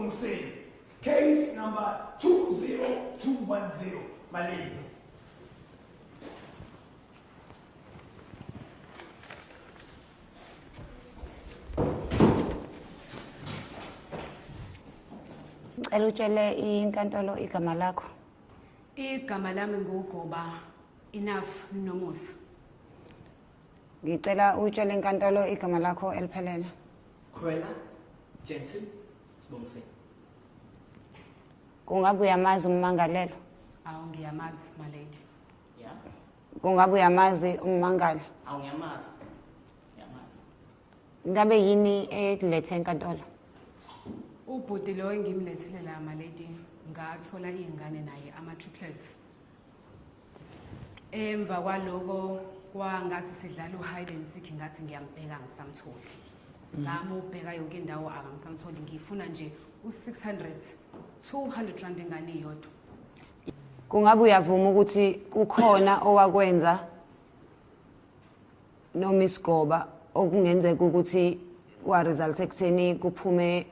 Mseni. Case number 20210 Malindi. Ngicela utshele inkantolo igama lakho. Igama lami nguGoba Enough Nomusa. Ngicela utshele inkantolo igama lakho eliphelele. Khwela Jensen Sibongiseni. Kungabe uyamazi ummangalelo? Awu ngiyamazi my lady. Yeah. Kungabe uyamazi ummangali? Awu ngiyamazi. ngabe yini ekulethe enkantolo ubhuti lo engimlethile la malady ngathola iy'ngane naye ama-triplets emva kwaloko kwangathi sidlala u-hide and seek ngathi ngiyambheka ngisamtholi ngami mm. ubheka yonke indawo aka ngisamtholi ngifuna nje u-600 200 rand ingane iyodwa kungabe uyavuma ukuthi kukhona owakwenza noma isigoba okungenzeka ukuthi kwaresulta ekutheni kuphume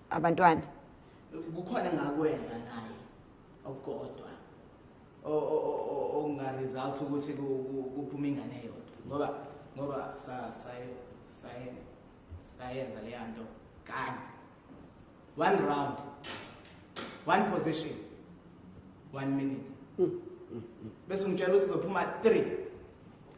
abantwana kukhona ngakwenza naye okukodwa okungaresulta ukuthi kuphume ingane yodwa ngoba ngoba sayenza leya nto kanye one round one position one minute hmm, hmm, hmm. bese ungitshela ukuthi uzophuma three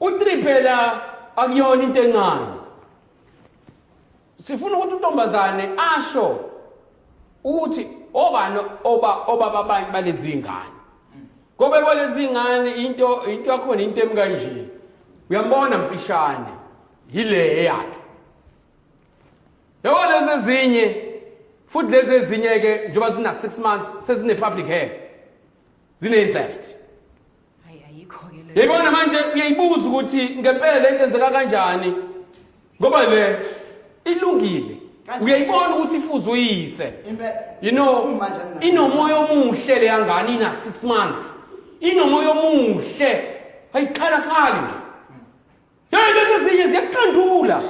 U3 phela akuyona into encane. Sifuna ukuthi untombazane asho ukuthi obani oba obaba abanye balezingane. Kobe kwalezingane into into yakhona into emkanje. Uyambona mfishane yile yakhe. Yabona lezi ezinye futhi lezi ezinye ke njengoba zina 6 months sezine public hair. Zine theft. Hayi ayikho ke leyo. Yayibona manje uyayibuza ukuthi ngempela le nto enzeka kanjani ngoba le ilungile Kanjani? uyayibona ukuthi ifuze uyise Impela. you know Uma nje angina- inomoya omuhle leya ngane ina 6 months inomoya omuhle ayikhala khali nje Hey lezi ezinye ziyaqandula.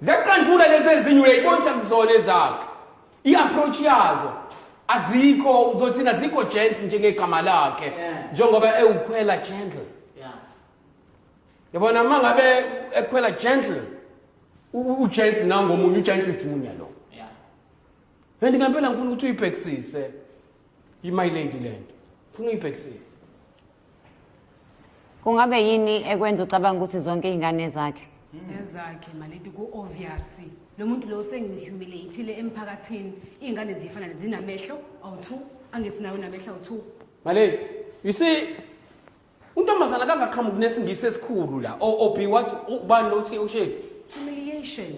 Ziyaqandula lezi ezinye uyayibona ukuthi akuzona ezakhe. I-approach yazo azikho uzothina zikho gentle njengegama lakhe njengoba ewukhwela gentle. Yeah. Yabona uma ngabe ekhwela gentle u- ugentle nangomunye ugentle junior lo. Yeah. And ngempela ngifuna ukuthi uyibhekisise imaylady lento. Ngifuna uyibhekisise. kungabe yini ekwenza ucabanga ukuthi zonke iy'ngane zakhe ezakhe maleti ku-obvious lo muntu lo sengihumiliatile emphakathini iy'ngane ziyifana zinamehlo awu-two angesinawo namehlo awu-two maleti you see untombazana kangaqhamuki nesingisi esikhulu la obi wathi ubani lo uthi usheni humiliation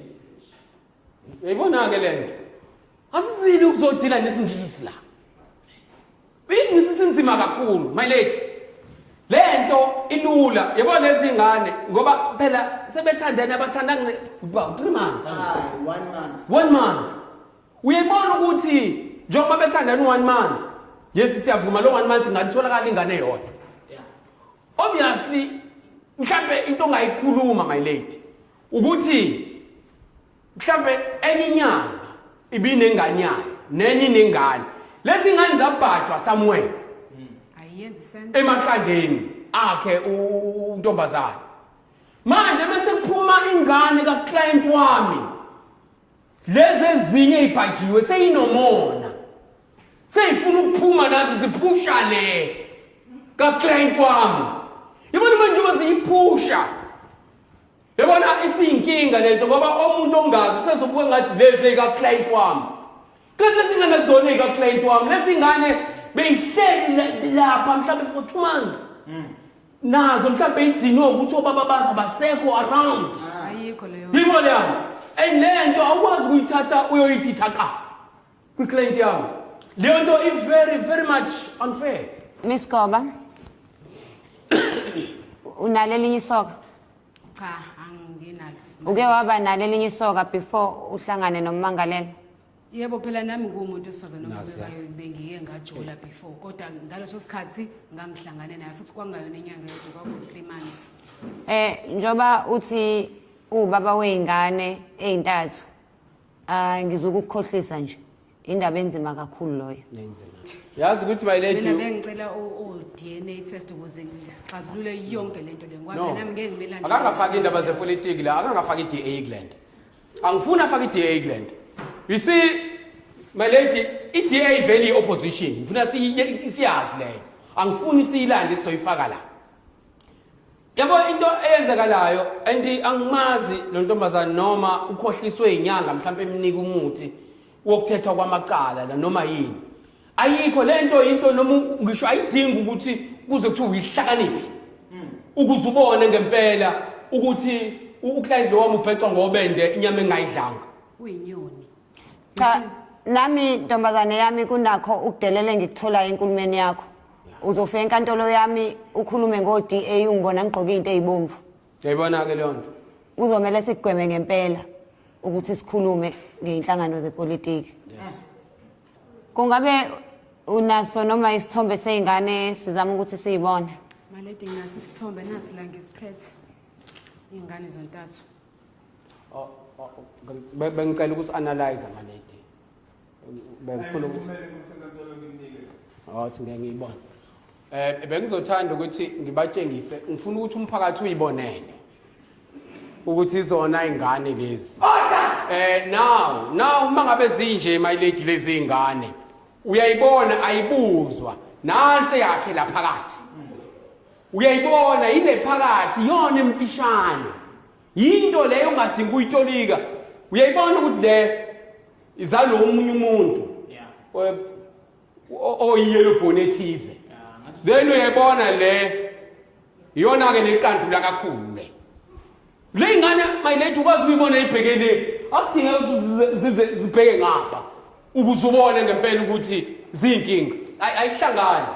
Yayibona-ke le nto asizile ukuzodila nesingisi la isingisi sinzima kakhulu my lady le nto ilula yabona lezi ngane ngoba phela sebethandene abathandane about three months one month one month uyayibona ukuthi njengoba bethandane u-one month yes siyavuma lo one month ingalitholakala ingane yodwa obviously mhlampe into ongayikhuluma my lady ukuthi mhlambe enye inyanga ibinengane yayo nenye inengane lezi ngane zabhajwa somewhere ayenzi sense emaqandeni akhe untombazana manje bese kuphuma ingane ka client wami lezi ezinye ibhajiwe seyinomona seyifuna ukuphuma nazo ziphusha le ka client wami yibona manje baziyiphusha Yabona isiyinkinga lento ngoba omuntu ongazi usezobuka ngathi lezi eka client wami. Kanti lesingane kuzona eka client wami. Lesingane beyihleli lapha mhlawumbe for 2 months. Mm. Nazo mhlawumbe idinwe ukuthi obaba baza basekho around. Ayikho leyo. Yimo leyo. And lento awukwazi ukuyithatha uyoyithitha qha. kwiclaint yam leyo nto i-very very much unfair miss goba unalo elinye isoka cha anginalo uke waba nalo elinye isoka before uhlangane nommangalelo yebo phela nami ngumuntu wesifazane obekayo bengiye ngajola before kodwa ngaleso sikhathi ngangihlangane naye futhi kwangayona inyanga yodwa kwaku-three months um njengoba uthi uwubaba wey'ngane ey'ntathu Hayi ngizokukhohlisa nje. Indaba enzima kakhulu loyo. yazi ukuthi my lady mina bengicela o-dna test ukuze sixazulule yonke le nto le ngoba No. phela nami ngeke ngimelane akangafaki indaba zepolitiki la akangafaki i-da england angifuni afake i-da england you see my lady i-da ivele i-opposition ngifuna siyi- siyazi leyo angifuni siyilande sizoyifaka la Yabo into eyenzakalayo and angimazi lo ntombazane noma ukhohliswe inyanga mhlawumbe emnika umuthi wokuthetha kwamacala la noma yini. Ayikho lento into noma ngisho ayidingi ukuthi kuze kuthiwe uyihlakaniphi. Hmm. Ukuze ubone ngempela ukuthi uclient lo wami ubhecwa ngobende inyama engayidlanga. Uyinyoni. cha nami ntombazane yami kunakho ukudelela engikutholayo enkulumeni yakho uzofika enkantolo yami ukhulume ngo-da ungibona ngigqoke into eyibomvu yayibona-ke leyo nto kuzomele sikugweme ngempela ukuthi sikhulume ngey'nhlangano zepolitiki kungabe unaso noma isithombe sey'ngane sizama ukuthi siyibone maledi nginaso isithombe nasi la ngiziphethe iy'ngane zontathu bengicela ukuthi analyze ama lady bengifuna ukuthi athi ngeke ngiyibone eh bengizothanda ukuthi ngibatshengise ngifuna ukuthi umphakathi uyibonele ukuthi izona ingane lezi eh now now uma ngabe zinje my lady lezi ingane uyayibona ayibuzwa nansi yakhe la phakathi uyayibona yile phakathi yona emfishane yinto leyo ongadingi ukuyitolika uyayibona ukuthi le izalo omunye umuntu oyiyelo bhoni ethize then uyayibona le iyona-ke neqandula kakhulu le Le ngane mayilethe ukwazi ukuyibona ibheke le. Akudingeki ukuthi zize zibheke ngapha ukuze ubone ngempela ukuthi ziyinkinga. Ay- Ayihlangani.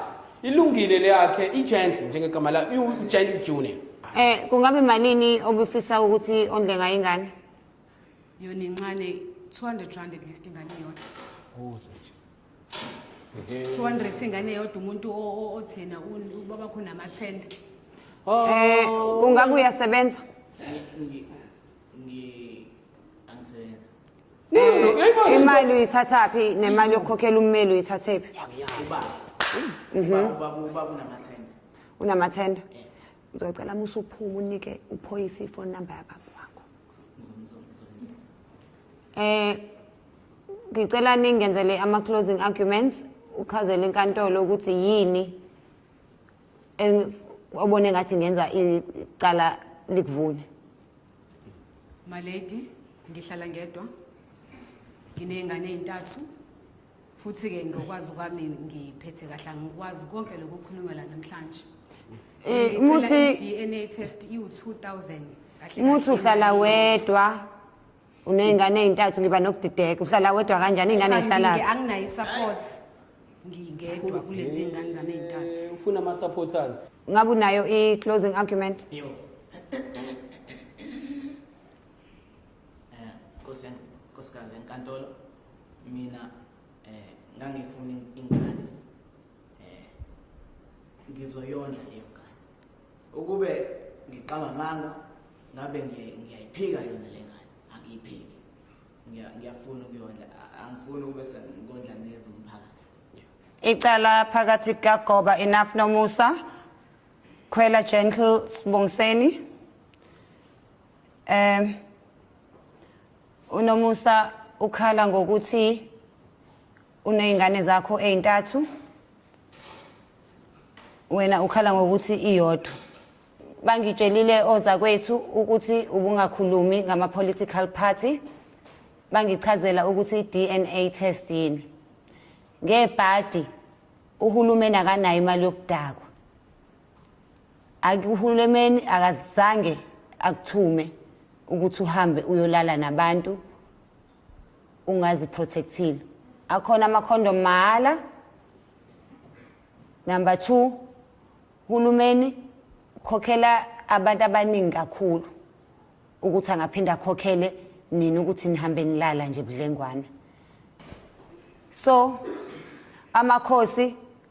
Ilungile le yakhe igentle njengegama layo iwugentle junior. Eh kungabe malini obufisa ukuthi ondle ngayo ingane? yona incane 200 rand at least ingane yodwa 200 ingane yodwa umuntu othina ubaba khona amathenda oh. eh ungabe uyasebenza eh, imali uyithatha phi nemali yokukhokhela ummeli uyithathe phi mhm. unamathenda eh. ngizocela musa uphume unike uphoyisa ifoni number yababa wakho eh ngicela ningenzele ama closing arguments uchazele inkantolo ukuthi yini obone ngathi ngenza icala likuvune my lady ngihlala ngedwa nginey'ngane ey'ntathu futhi-ke ngokwazi kwami ngiphethe kahle angikwazi konke lokhu kukhulunywa la namhlanje Eh, muthi DNA test iwu2000 kahle muthi uhlala wedwa unezingane ezintathu ngiba nokudideka uhlala wedwa kanjani ingane ihlala anginayi support ngingedwa kulezi ngane zami ezintathu eh, ufuna ama supporters ngabe unayo i closing argument yebo eh, Nkosi enkantolo mina eh ngangifuna ingane eh ngizoyondla leyo ngane ukube ngiqaba manga ngabe ngiyayiphika yona le ngane angiyiphiki ngiyafuna ukuyondla angifuni ukube sengikondla nezo umphakathi icala phakathi kukagoba enough nomusa khwela gentle sibongiseni um unomusa ukhala ngokuthi uney'ngane zakho ey'ntathu wena ukhala ngokuthi iyodwa bangitshelile ozakwethu ukuthi ubungakhulumi ngama-political party bangichazela ukuthi i-dna test yini ngebhadi uhulumeni akanayo imali yokudakwa akuhulumeni akazange akuthume ukuthi uhambe uyolala nabantu ungaziprotectile akhona amakhondom mahhala number two hulumeni khokhela abantu abaningi kakhulu ukuthi angaphinde akhokhele nina ukuthi nihambe nilala nje budlengwana so amakhosi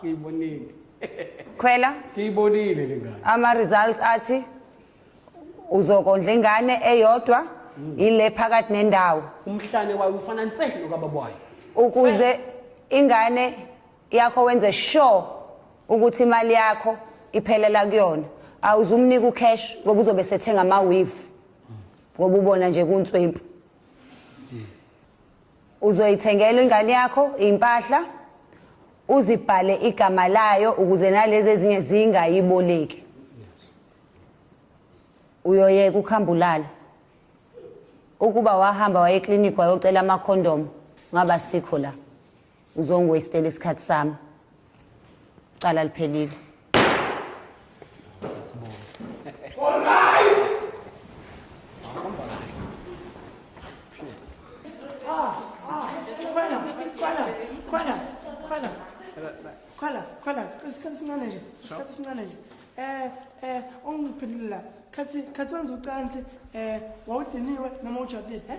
ngiyibonile khwela ngiyibonile le ngane ama-results athi uzokondla ingane eyodwa hmm. ile phakathi nendawo umhlane wayo ufana nse nokababa wayo ukuze ingane yakho wenze sure ukuthi imali yakho iphelela kuyona awuzumnika ucash ngoba uzobe sethenga ama-weave hmm. ngoba ubona nje kunswempu uzoyithengela ingane yakho impahla uzibhale igama layo ukuze nalezi ezinye zingayiboleki uyoyeka ukuhambulala ukuba wahamba waye clinic wayocela ama condom ngaba sikho la uzongiwastela isikhathi sami cala liphelile Khala, khala, isikhathi sincane nje, isikhathi sincane nje. Eh, eh, ungiphendulile la. Khathi, khathi wenza ucansi, eh, wawudiniwe noma ujabulile, eh?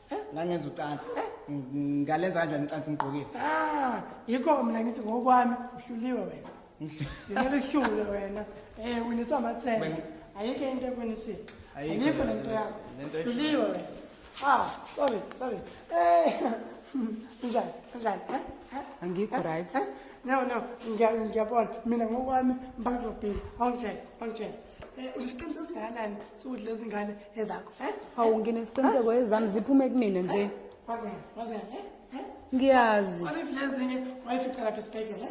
ngangenza ucansi ngalenza kanjani ucansi ngigqokile ah yikho mina ngithi ngokwami uhluliwe wena ngimele uhlule wena eh winiswa amathemba ayikho into ekwinisile ayikho lento yakho uhluliwe wena ah sorry sorry eh njani njani eh, eh? angikho eh, right no no ngiyabona mina ngokwami mpaka ngizobhila awungitshela awungitshela Eh, unesiqiniseko singakanani sokuthi lezi ngane ezakho eh? hawu ngine isiqiniseko ezami ziphume kumina nje eh? ngiyazi lezinye wayifica lapha esibhedlela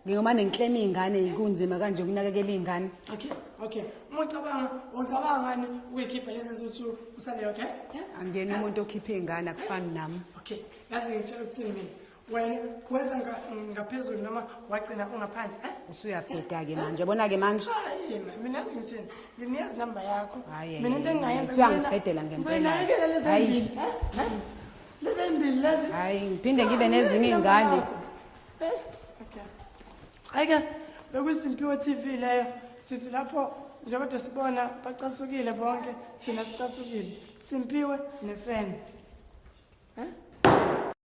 ngingoma nenhlema iy'ngane kunzima kanje ukunakekela iy'ngane okay okay uma ucabanga ucabanga ngani ukuyikhipha lezi zuthu usale yodwa angena umuntu okhipha iy'ngane akufani nami okay yazi ngitshela ukuthini mina wena wenza ngaphezulu noma wagcina ungaphandle eh? usuyabheda-ke manje bona-ke manje mina yazi ngithini nginiyazi namba yakho mina into engingayenzauyangibhedela ngempelaayibele lezimbili lezimbili lezi hayi ngiphinde ngibe nezinye iy'ngane hayi-ke eh? bekuyisimpiwo t v leyo sithi lapho njengoba sibona bacasukile bonke thina sicasukile simpiwe nefeni um eh?